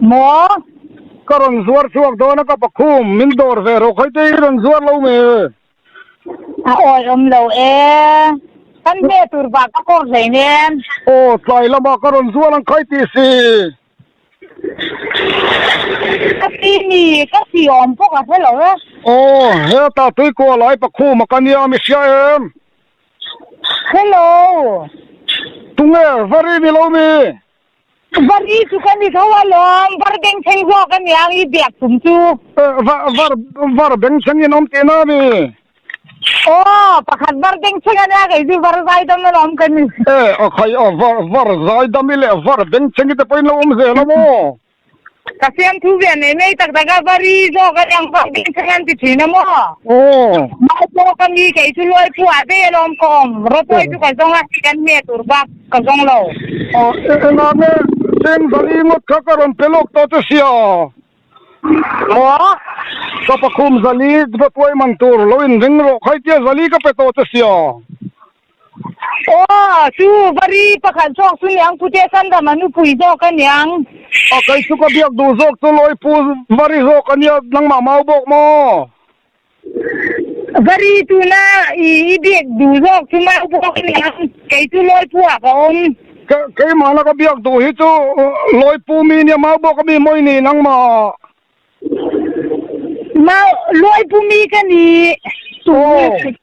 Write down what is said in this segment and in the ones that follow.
Maw? Ka rawn zuar chhuak dawn a ka pakhum, min dawr ve rawh khaite i rawn zuar lo me e. A awi awm lo e, kan hme tur bah ka kawr hlei nen. Aw, tlai lamah ka rawn zuar ang khai tih si. Ka ti mi ka siawm pawh ka hre lo e. Aw, heta tuikuah lai pakhum a ka nia mi hria em? Hello. Tunge, va ri mi lo mi? Var i chu ka ni tho alawm, var beng thleng zawk a ni ang i biak tum chu. Var, var beng thleng in awm teh na ni? Aw, pakhat var beng thleng a nia, kei chu var zai dam in awm ka ni. E, a khai a, var zai dam i leh var beng thleng i te pawh in lo awm zel a maw? Ka siam thu ve nei mai tak tak a, va ri zawk a niang vang ding thei an ti thin a maw? Aww. Mai pawh ka mi kei chu Luaipu ah dei alawm ka awm, Rawtawi chu ka zawng a, hei kan hme tur bak ka zawng lo. Aww, enah nge Seng Zali ngawt kha ka rawn pe lawk tawh che si a? Maw? Ka pakhum Zali Rawtawi man tur lo in ring rawh khai tia Zali ka pe tawh che si a? Aw, chu Vari pakhat zawk chu niang pute Sanram a nupui zawk a niang. Aw, kei chu ka biak duh zawk chu Lawipu Vari zawk a nia, nangmah mau bawk maw? Vari tuna i biak duh zawk chu mau bawk a niang, kei chu Lawipu ah ka awm. Ke, keimahna ka biak duh hi chu Lawipu mi nia, mau bawk a mi maw i nih nangmah? Mau, Lawipu mi ka nih. Aw.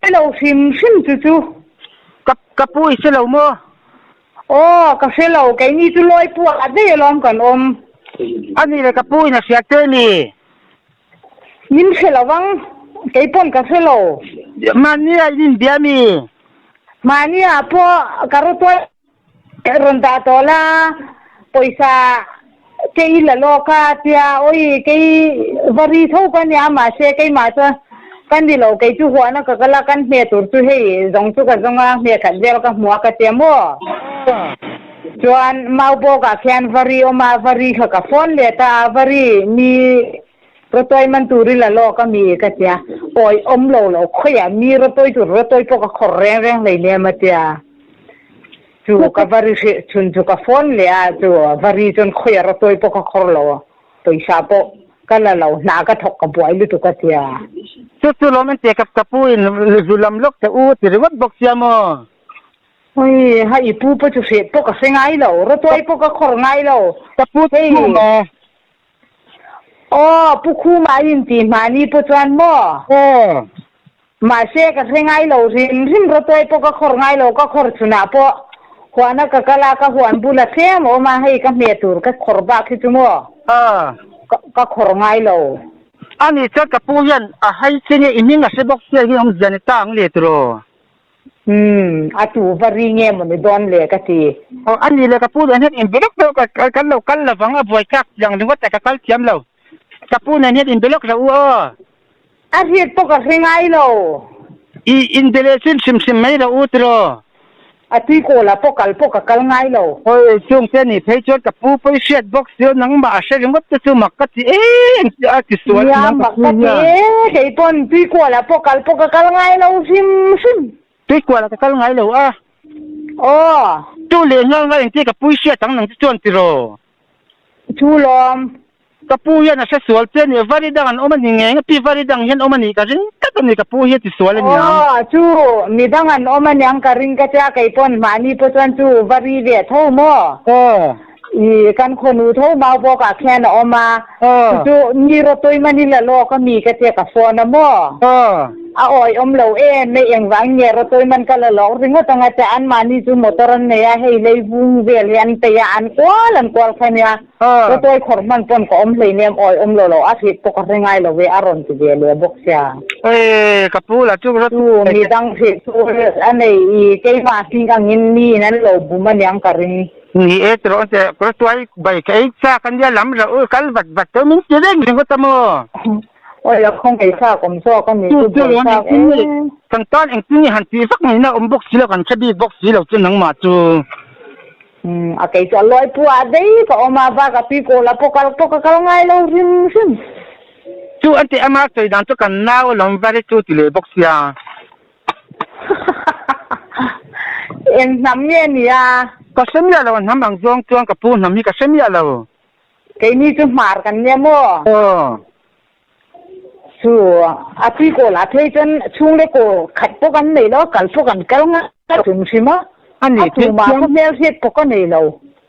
Ka lo hrim hrim chu chu. Ka ka pu i selo maw? Aw ka hrelo, keini chu Lawipu ah daih alawm kan awm. Ani le ka pu in a hriat teh mi. Min hre lo vang, kei pawn ka hrelo. Mahni ah in inbia mi. Mahni ah pawh ka ru tuai. Ka rawn dah tawh la, pawisa kei i la lawk a, tia awi kei va ri tho ka nia, mahse keimah chuan ka ni lo, kei chu huahna ka kal a, kan hme tur chu hei zawng chu ka zawng a, hme khat vel ka hmu a ka ti a maw. Chuan mau bawk ah khian va ri awm a, va ri kha ka phone let a, a va ri mi. Rotawih man tur ila lawk a mi ka tia, awi awm lo lo khawiah mi rotawih tur rotawih pawh ka khawr reng reng hlei niam a tia. Chu ka va ri hrilh chhun chu ka phone leh a chu va ri chuan khawiah rotawih pawh ka khawr lo, pawisa pawh ka la lo, hna ka thawk ka buai lutuk a tia. Chu chu lawm entir ka ka pu in zu lam lawk che u ti ringawt bawk sia maw. Hi ha i pu pawh chu hrep pawh ka hre ngai lo, rotawih pawh ka khawr ngai lo, hei. Aw, Pu Khuma a rin tih hma ni pawh chuan maw? Aw. Mahse, ka hre ngai lo hrim hrim, Rawtawi pawh ka khawr ngai lo, ka khawr chhunah pawh huana ka kal a, ka huan bul a tlem awm a, hei ka hme tur ka khawr bak hi chu maw? Aw. Ka khawr ngai lo. Ani chuan ka pu hian a hai che nge i hming a hre bawk chiah hi hawng zia ni ta ang le tur aw. Umm, a tu va ri nge maw ni dawn le ka ti. Aw, a ni le ka pu nen hian in be lawk deuh ka kan lo kal lovang a buai tlak chiang ringawt a ka kal thiam lo. Ka pu nen hian in be lawk hlo u aw. A hriat pawh ka hre ngai lo. I in be leh chin hrim hrim mai lo u tiraw. A tuikawl ah pawh kal pawh ka kal ngai lo. Hawi chungte ni phei chuan ka pu pawh i hriat bawk. Chu nangmah a hre ringawt te chu mak ka ti em sia a, tisual a inang tak chu hian. Mak ka ti e, keipawn Tuikuala pawh kal pawh ka kal ngai lo hrim hrim. Tuikuala ka kal ngai lo a. Aw. Chu leh nghal nghal engti ka pui hriat ang nang chu chuan tiraw. Thu lawm. Ka pu hian a hre sual che nia, Varidang an awm a ni ngeng a, pi Varidang hian awm a nih ka ring tlat a ni ka pu hi tisual a niang. Aw, chu midang an awm a niang ka ring ka tia keipawn mahni pawh chuan chu Vari ve tho maw. Aw. i kan khonu tho mau bawk ah khian a awm a chu chu ni rotoi mani la lawk a mi ka che ka phone a maw a awih awm lo em mai engvang nge rotoi man ka la lawk ringawt ang a che an mahni chu motor an nei a hei leivung vel hi an peih a an kual an kual kha nia rotoi khawr hman pawn ka awm hlein em awih awm lo lo a hrip pawh ka hre ngai lo ve a rawn ti ve leh bawk sia ee ka pu la chu mi dang hrip chu a nei i keimah hring angin ni in an lo bum aniang ka ring. Ni e, tirawn che, kawr tuai bai ka ei chak ania, lam rauh u kal vat vat tawh min ti reng reng awt a maw? Aw le, khaw ngei chak awm zawk a ni, chu buai chak e. Kan tan engtin nge han tih vak ngeiin a awm bawk si lo, kan thla bik bawk si lo chu nangmah chu. Umm, a kei chu a luai pua a, dei ka awm a, bak a pi kawh lah pawh kal pawh ka kal ngai lo hrim hrim. Chu an tih a, Mark chawi dan chu kan nau alawm var e chu ti leh bawk sia. Eng hnam nge nia? Ka hre miah lo, a hnam ang zawng chuan ka pu hnam hi ka hre miah lo. Keini chu hmar kan nia maw? Aw. Chu a tui kawl ah phei chuan chhung le kaw khat pawh kan nei lo, kal pawh kan kal ngai hrim hrim a. A tumah khaw hmel hriat pawh ka nei lo.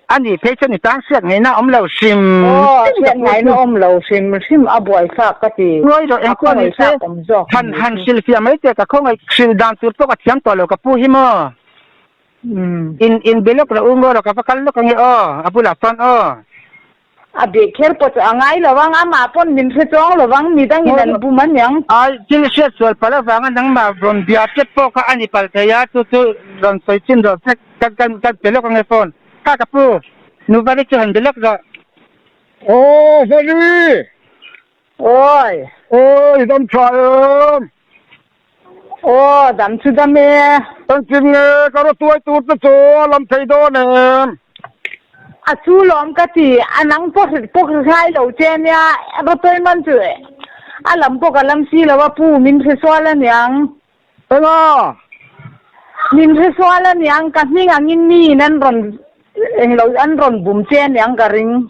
A nih phei chuan i tang hriat ngheihna awm lo hrim hrim ka hmu chu. Awm lo hrim hrim a buai thlak ka ti. Ruai rawh engpawh ni se, than han hrilhfiah mai che, ka khawngaih hrilh dan tur pawh ka thiam tawh lo ka pu hi maw. In in be lawk rawh u maw rawh ka va kal lawk ange aw, a bulah chuan aw. A beh kher pawt a ngai lo ang, amah pawn min hrechawng lo ang, midangin an bum a niang. Thil hriat sual pal avanga nangmah rawn bia tep pawh kha a ni pal thei a, chu chu rawn sawi chin rawh vek, kan kan kan pe lawk ange fawn. Ka ka pu, nu Vali chu han be lawk zawh. Aw Vali! Awi! Awi, Damthla em! Aw, dam chu dam e. Engtin nge ka raw tuai tur te chu a lam thei dawn em? A chu lawm ka ti, a nang pawh hrilh pawh ka ngai lo che nia, raw tuai man chu a lam pawh ka lam si lo a pu, min hresual a niang. Enga? Min hresual a niang, ka hming angin mi in an rawn englo an rawn bum che aniang ka ring.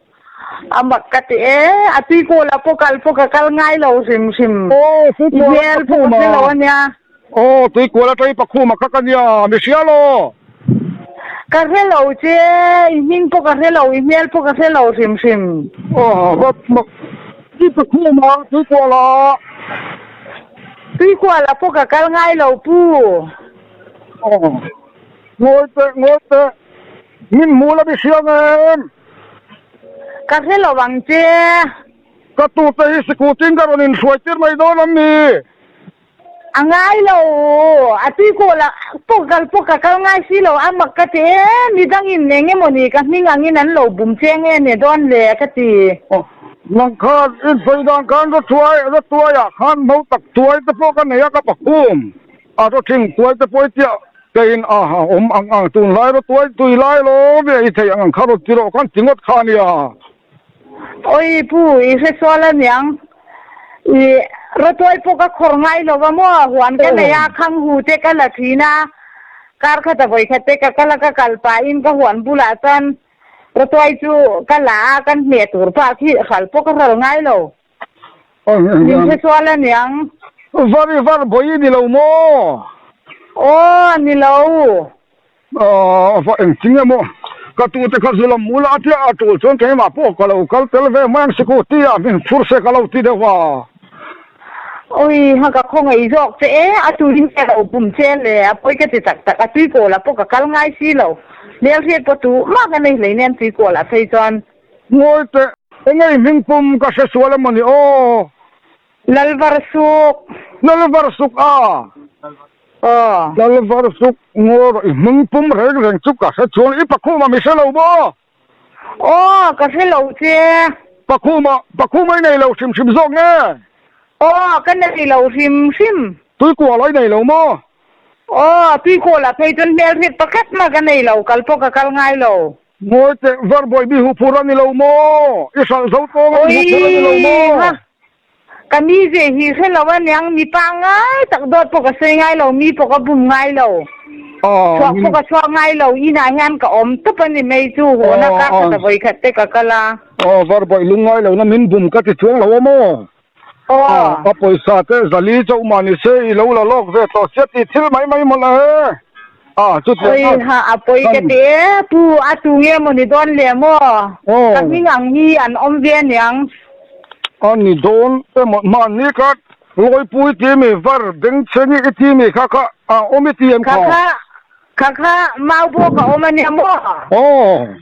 A mak ka ti e, a tuikaw lah pawh kal pawh ka kal ngai lo hrim hrim. I hmel pawh ka hre lo a nia. Aw, tuikual aṭai pakhum a kak a nia, mi hria law. Ka hre lo che, i hming pawh ka hre lo, i hmel pawh ka hre lo hrim hrim. Aw, mak mak i pakhum a tuikual ah. Tuikual ah pawh ka kal ngai lo pu. Aw, ngawi teh, ngawi teh, min hmu la mi hriang em. Ka hre lo ang che. Ka tur te hi sikhutin ka rawn inhruai tir mai dawn an ni. A ngai lo u, a tuikawl ah pawh kal pawh ka kal ngai si lo a, mak ka ti e, midang in eng emaw ni ka hming ang in an lo bum che nge a ne dawn le ka ti. Nang khan insawi dan khan ra tuai, ra tuai ah khan hmo tak tuai te pawh ka nei a ka pakhum. A rotling puai te puai tiah kei in a awm ang ang tunlai ro tuai tui lai lawm i a i theih ang ang kha ro ti rawh khan ti ngawt kha a ni a. Awi pu i hresual a niang i rotuai pawh ka khawr ngai lo va maw a huan ka nei a khanghu te ka la thin a kar khat a vawi khat te ka kal a ka kal pa in ka huan bulah chuan rotuai chu ka la a kan hmeh tur pah khi hral pawh ka hral ngai lo. Min hre sual a niang. Var i var bawi i ni lo maw? Aw, a ni lo. Aw, va engtin em aw. Ka tute kha Zulam mul a tia a tul chuan keimah pawh ka lo kal tel ve mai ang Scooty ah min phur se ka lo ti deuh a. Awi, ha ka khawngaih zawk che e, a turin ka lo bum che le, a pawi ka ti tak tak. A tuikawl ah pawh ka kal ngai si lo. Lelhriat pawh tu mah ka nei hlei nen tuikawl ah phei chuan Ngawi teh, engei hming pum ka hre sual a mawni aw. Lalvarsuk. Lalvarsuk a? Aw. Lalvarsuk, ngaw rawh, i hming pum reng reng chu ka hre chuan i pakhuma mi hre lo maw? Aw, ka hre lo che. Pakhuma, pakhuma i nei lo hrim hrim zawk nge? Aw, ka nei lo hrim hrim. Tuikuala i nei lo maw? Aw, tuikuala phei chuan hmelhriat pakhat maw ka nei lo, kal pawh ka kal ngai lo. Mawi teh Varbawi bihu phur a ni lo maw? I hralh zo tawng a bihu phur a ni lo maw? Oi ha, ka mi ve hi hre lo a niang, mi pa ngai tak dawt pawh ka sawi ngai lo, mi pawh ka bum ngai lo, chhuak pawh ka chhuak ngai lo, inah hian ka awm tawp a ni mai chu, haw na kak khat a vawi khat te ka kal a. Varbawi lungngai lohna min bum ka ti chuang lo a maw? Aw. A pawisa te Zali chauh mah ni se, i lo la lawk ve tawh sia tih thil mai mai maw la e? A chutiang chuan. Khawiha a pawi ka ti e, Pu, a tu nge maw ni dawn leh maw? Ka hming ang hi an awm ve a ni ang. A ni dawn emaw hman ni ka, Lawipui timi var Bengchhengi i timi kha kha a awm i ti em kha? Kha kha, Kha kha mau bawk a awm a nia maw? Aww.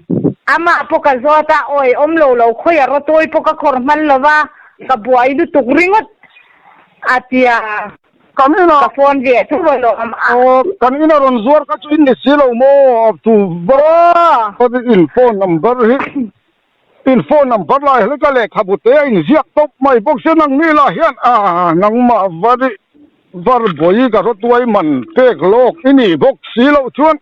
Amah pawh ka zawt a, awii awm lo lo khawi a Ratawi pawh ka khawr hman lo va, ka buai lutuk ringawt a ti a. Kan ina. Ka phone ve a thu lo a mah. Aww, kan ina rawn zuar kha chu in ni si lo maw a thu va. Aww. Ka ri in phone number hi In phone number lai hian ka lehkhabu te a in ziak tawp mai bawk se nang mi lah hian aa nangmah var i var bawi ka hre tuai man pek lawk i nih bawk si loh chuan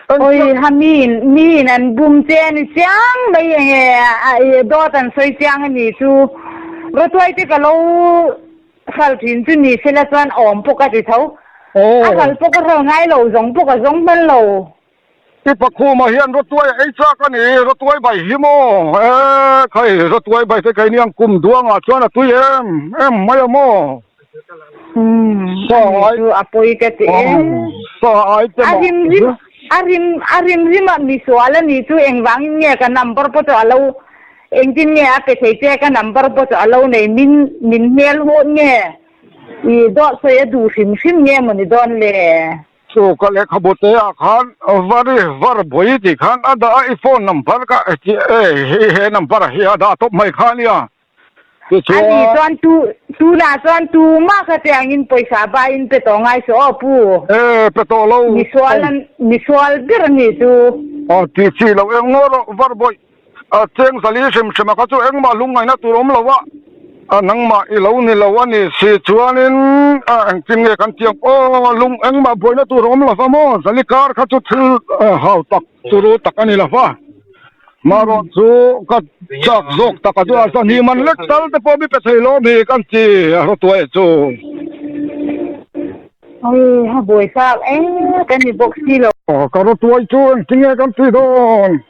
Awii ha mi in mi in an bum che a ni chiang mai enge a dawt an sawi chiang a ni chu Ruatuai te ka lo hral thin chu ni se la chuan a awm pawk a ti tho a hral pawk a hral ngai lo zawng pawk a zawng hman lo I pakhuma hian Rotuaia ei chak a ni. Rotuai bai hi maw? E, khai, Rotuai bai te keiniang kum duangah chuan a tui em em mai a maw? Saai chu a pawi ka ti e. Saai te mah hi. A hrim a hrim hrimah misual a nih chu engvangin nge ka number pawh chu a lo engtin nge a pe thei che ka number pawh chu a lo nei min min hmel hawh nge i dawhsawi a duh hrim hrim nge mawni dawn le? Sawka lehkhabu te ah khan Vary, var buai tih khan a dah a, i phone number kha he he number ah hi a dah tawp mai kha nia. Tichuan. Ani chuan tu tunah chuan tumah kha che angin pawisa baiin pe tawh ngai saw aw pu. E pe tawh lo. Misual a misual ber a ni chu. Aw tih chi lo engmaw rawh Varbuai. A cheng zal i hrim hrim a ka chu engmah hlum ngaihna tur awm lo a, nangmah i lo ni lo a ni si chuanin engtin nge kan tih ang? Aw lung engmah buaina tur a awm lo va maw? Zal i kar kha chu thil hau tak turu tak a ni lo va, mahrâwng chu ka châk zâwk tak a chu a zan hi man lek tal te pawh mi pe thei lawm hi kan ti a hre tuai a chu. Aw a buai tak em ka ni bawk si lo. Ka hre tuai chu engtin nge kan tih dawn?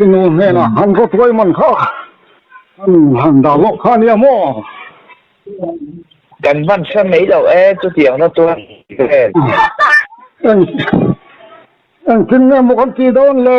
I nu hnenah han va tuai man kha han dah zawk kha nia maw? Kan hmansa mai lo e, chutiang va tuai vel. Engtin nge maw kan ti dawn le?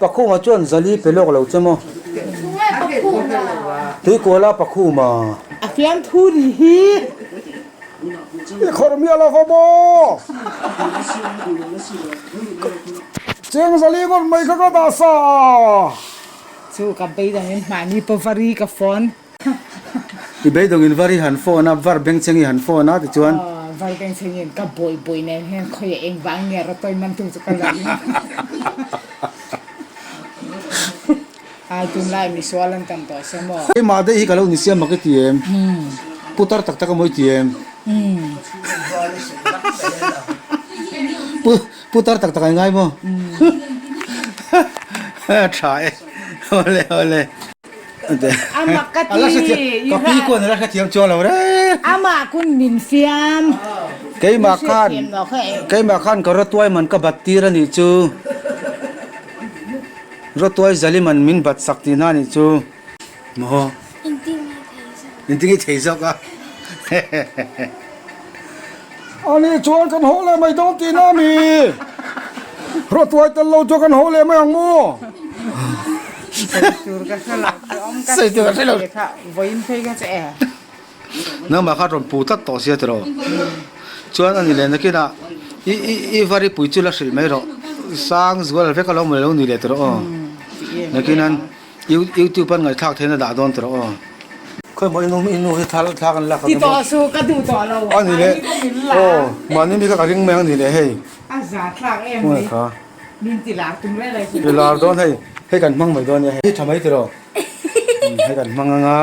Pakhuma chuan zali pe lawk lo che maw? Tui kuala pakhuma. A fiam thu ni hi. I khawr mi a la va maw? Cheng zali ngawt mai kha ka dah sa a. Chu ka beidang in mahni pavari ka phone. I beidawngin Vari han phone a, Var Bengcheng i han phone a tichuan. Var Bengcheng in ka bawi bawi nen hian khawi a eng vang nia Ratawi man tu chu ka la ring a, ai tun lai mi sual an tam tawh se maw. Kei mahdaih hi ka lo ni siam mak i ti em? Putar tak tak emaw i ti em? Putar tak tak ai ngai maw? Tha e, awle awle. Amah ka ti i hran. Amah kun min fiam i hriat thiam lo kha e. Keimah khan ka rotuai man ka bat tir a nih chu. Rotuai zali man min bat sak ti hna a nih chu. Maw? Inti nge thei zawk a? Ani chuan kan hawh leh mai dawn ti na mi hruattuai tel lo chu kan hawh leh mai ang maw? Seitur ka hre lo chu awm ka ti ve kha vawiin phei ka che e. Nangmah kha rawn pu tlat tawh sia ti rawh. Chuan ani leh nakinah i i i Varipui chu la hrilh mai rawh, Sangzual vek a lo awm leh lo ni leh ti rawh aw. Nakinan. YouTube an ngaithlak theihna dah dawn tawh aw. Khawi maw i nu i nu hi thla thlak an lak emaw. Titawh chu ka duh tawh lo. A ni le aw mahni mi kha ka ring mai ang a ni le hei. A za thlak em mai. Khawngaih kha. Min ti lar tum rei rei chu. Ti lar dawn hei hei kan hmang mai dawn nia hei. Hi tha mai tilo. Hei kan hmang anga.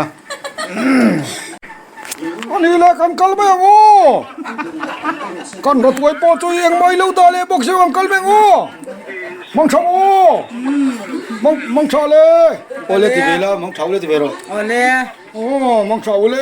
Anih leh kan kal mai ang aw kan hnathawih pawh chu i engmah ilo dah leh bawk zeuh ang kal mai ang aw mangtha aw mang mangtha le aw le ti ve la mangtha u le ti ve rawh aw le aw mangtha u le.